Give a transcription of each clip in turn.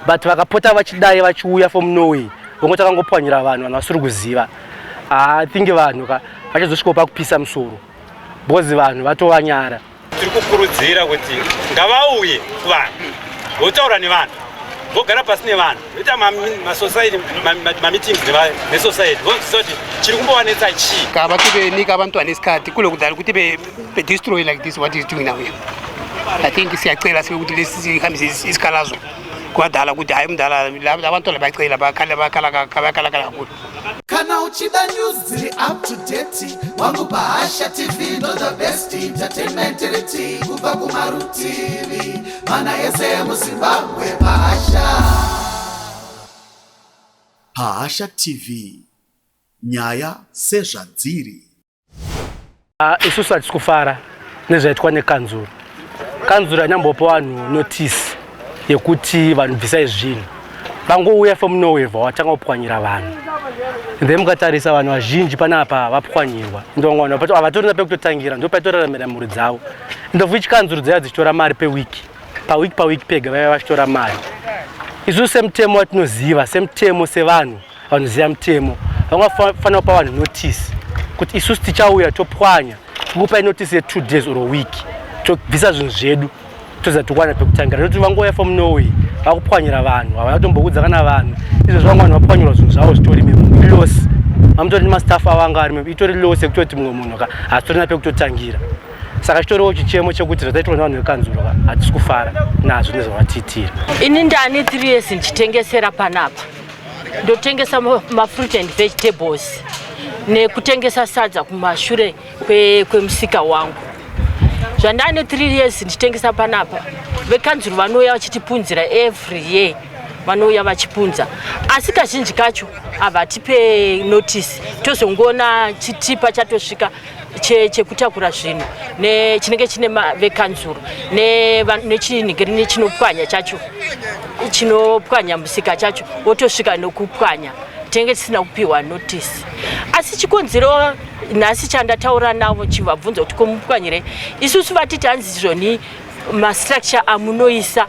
but vakapota vachidai vachiuya from norway vongo takangopwanyira vanhu vanhu vasiri kuziva i think vanhu ka vachazosvikawo pakupisa musoro because vanhu vatovanyara tiri kukurudzira kuti ngavauye kuvanhu votaura nevanhu vogara pasi nevanhu voita masosaiti mameetings nesosaiti vozvisa kuti chiri kumbovanetsa chii kava kuve ni kava mtu ane sikati kule kudari kuti They destroy like this what is doing now here. I think siyacela sibe ukuthi lesi hambise isikhalazo kwadala ukuthi hayi mdala abantu labacela bakhala bakhala bakhala kakhulu. Kana uchida news dziri up to date wangu Bahasha TV ndo the best entertainment riti kubva kumarutivi mana yese muZimbabwe Bahasha. Bahasha TV nyaya sezvadziri. Ah, isusu hatisi kufara nezvaitwa nekanzuro kanzuro yanyambopa vanhu notisi yekuti vanhu bvisai zvinhu vangouya fomunowevha watanga kupwanyira vanhu then mukatarisa vanhu vazhinji pane apa vapwanyirwa ndovamwe vanhu havatorina pekutotangira ndo paitoraramira mhuri dzavo ndofu ichikanzuro dzaiva dzichitora mari pewiki pawiki pawiki pega vaiva vachitora mari isusu semutemo watinoziva semutemo sevanhu vanoziva mutemo vangafanira kupa vanhu notice kuti isusu tichauya topwanya kukupa inotice yetwo days or week tobvisa zvinhu zvedu toziva tokwana pekutangira nekuti vangouya from norway vakupwanyira vanhu havana kutomboudza kana vanhu izvo zvavanga vanhu vapwanyirwa zvinhu zvavo zvitori memulos amutori nemastaff avo anga ari meme itori los yekutoti mumwe munhu ka hasitorina pekutotangira saka chitoriwo chichemo chekuti zvataitwa nevanhu vekanzuro ka hatisi kufara nazvo nezvavatiitira ini ndane three years ndichitengesera panapa ndotengesa mafruit and vegetables nekutengesa sadza kumashure kwemusika kwe wangu zvandane three years ndichitengesa panapa vekanzuru vanouya vachitipunzira every year vanouya vachipunza asi kazhinji kacho havatipe notice tozongoona chitipa chatosvika chekutakura zvinhu chinenge chine vekanzuru nechinhi grini chinopwanya chacho chinopwanya musika chacho wotosvika nokupwanya tinenge tisina kupiwa notisi asi chikonzero nhasi chandataura navo chivabvunza kuti komupwanyire isusu vatiti hanzi zvoni mastructure amunoisa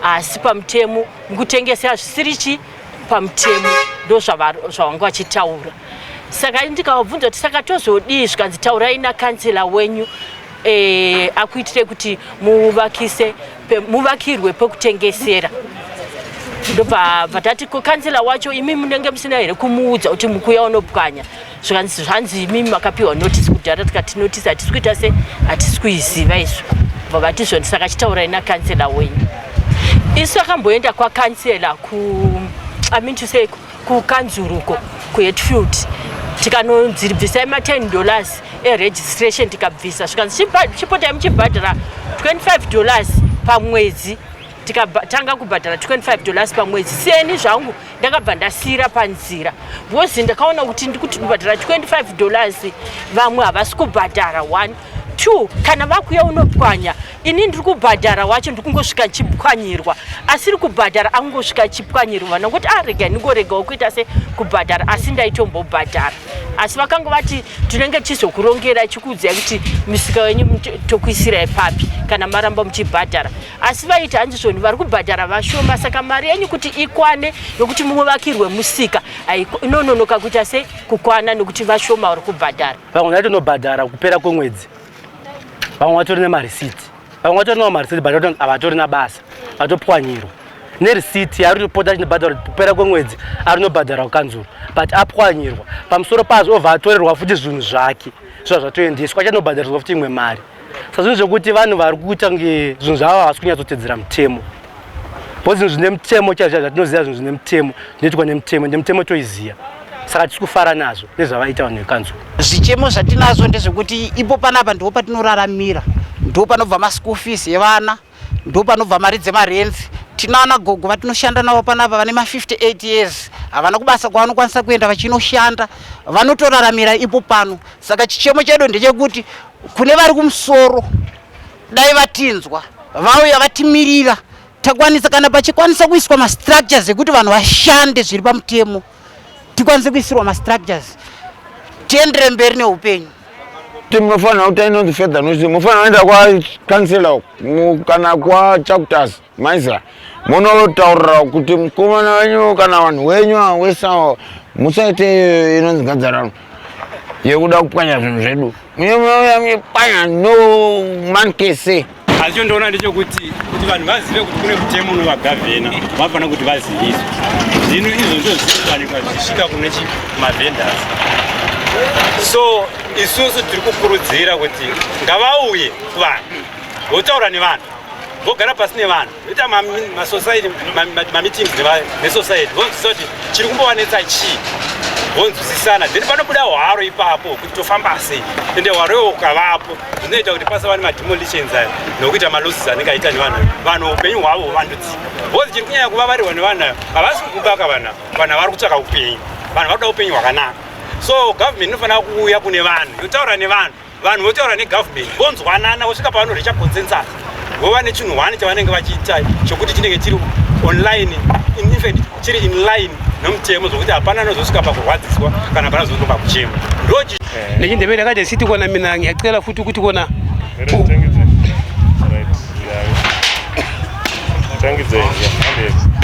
haasi pamutemo mukutengesera zvisiri chi pamutemo ndozvavanga vachitaura saka ndikavabvunza kuti saka tozodii zvikanzi taurai nakansela wenyu eh, akuitire kuti muvakise muvakirwe pekutengesera ndobva vatati kansela wacho imi munenge musina here kumuudza kuti mukuya unopwanya zvikanzi zvanzi imimi makapiwa notice kudhara tikati notice hatisi kuita se hatisi kuiziva isu bva vati zvoni saka chitaurai nakansela wenyu isu akamboenda kwakansela ku amin to say kukanzuruko kuhetfield tikanonzi bvisai ma10 dollars eregistration tikabvisa zvikanzi chipotai muchibhadhara 25 dollars pamwedzi tikatanga kubhadhara 25 dollars pamwedzi seni zvangu ndakabva ndasiyira panzira because ndakaona kuti ndikuti kubhadhara 25 dollars vamwe havasi kubhadhara one two kana vakuya unopwanya ini ndiri kubhadhara wacho ndiri kungosvika chipwanyirwa asiri kubhadhara akungosvika chipwanyirwa vana ngokuti arega ah, ndingoregawo kuita se kubhadhara asi ndaitombobhadhara asi vakanga vati tinenge tichizokurongera chikuudzai kuti misika wenyu tokuisirai papi kana maramba muchibhadhara asi vaiti hanzi zvoni vari kubhadhara vashoma saka mari yenyu kuti ikwane yokuti mumwe vakirwe musika inononoka kuita se kukwana nokuti vashoma vari kubhadhara vamwe vaitonobhadhara kupera kwemwedzi vamwe vatori nemarisiti vamwe vatori nawo marisiti but havatori nabasa vatopwanyirwa nerisiti ari rinopota achinobhadhara kupera kwemwedzi ari nobhadhara kukanzuru but apwanyirwa pamusoro pazvo obva atorerwa futi zvinhu zvake zviva zvatoendeswa achanobhadhariswa futi imwe mari sazvinhu zvekuti vanhu vari kuita kunge zvinhu zvavo havasi kunyatsotedzera mutemo bcause zvinhu zvine mutemo chaizvo zvatinoziva zvinhu zvine mutemo zvinoitwa nemutemo ende mutemo toiziva saka tisi kufara nazvo nezvavaita vanhu vekanzwa zvichemo zvatinazvo ndezvekuti ipo panapa ndipo patinoraramira ndipo panobva maschool fees evana ndopanobva mari dzemarenzi tinaana gogo vatinoshanda navo panapa vane ma58 years havana kubasa kwavanokwanisa kuenda vachinoshanda vanotoraramira ipo pano saka chichemo chedu ndechekuti kune vari kumusoro dai vatinzwa vauya vatimirira takwanisa kana pachikwanisa kuiswa mastructures ekuti vanhu vashande zviri pamutemo tikwanise kuisirwa mastructures tiendere mberi neupenyu kuti munofanira kuti inonzi fedha nosi munofanira kuenda kwakansela uku kana kwachakutas maisa munotaurira kuti mukomana wenyu kana vanhu wenyu awesa musaite inonzi gadzarano yekuda kupwanya zvinhu zvedu asi chondoona ndechokuti kuti vanhu vazive kuti kune mutemo unovagavhena vanofanira kuti vaziviswe zvino izvo ndozvinowanikwa zvichisvika kune chimavhenders so isusu tiri kukurudzira kuti ngavauye kuvanhu votaura nevanhu vogara pasi nevanhu ita masociety mameetings nesociety vonzwisisa kuti chiri kumbovanetsa chii vonzwisisana then panobuda hwaro ipapo kuti tofamba sei ende hwaro iwo ukavapo zvinoita kuti pasava nemademolitions ayo nokuita malosses anenge aita nevanhu ayo vanhu upenyu hwavo huvandudzika bhozi chiri kunyanya kuvavarirwa nevanhu ayo havasi kukubaka vanhu vanhu vari kutsvaka upenyu vanhu vakuda upenyu hwakanaka so government inofanira kuuya kune vanhu yotaura nevanhu vanhu votaura negovernment vonzwanana vosvika pavano reacha consensus vova nechinhu one chavanenge vachiita chokuti chinenge chiri online infact chiri inline nomutemo zvokuti hapana anozosvika pakurwadziswa kana hapana zosvika pakuchema ndochi eh. nechindevere yakaita siti kona mina yacela futi ukuti kona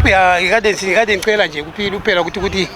ya ikade ikade ncela nje kupira kuti kuti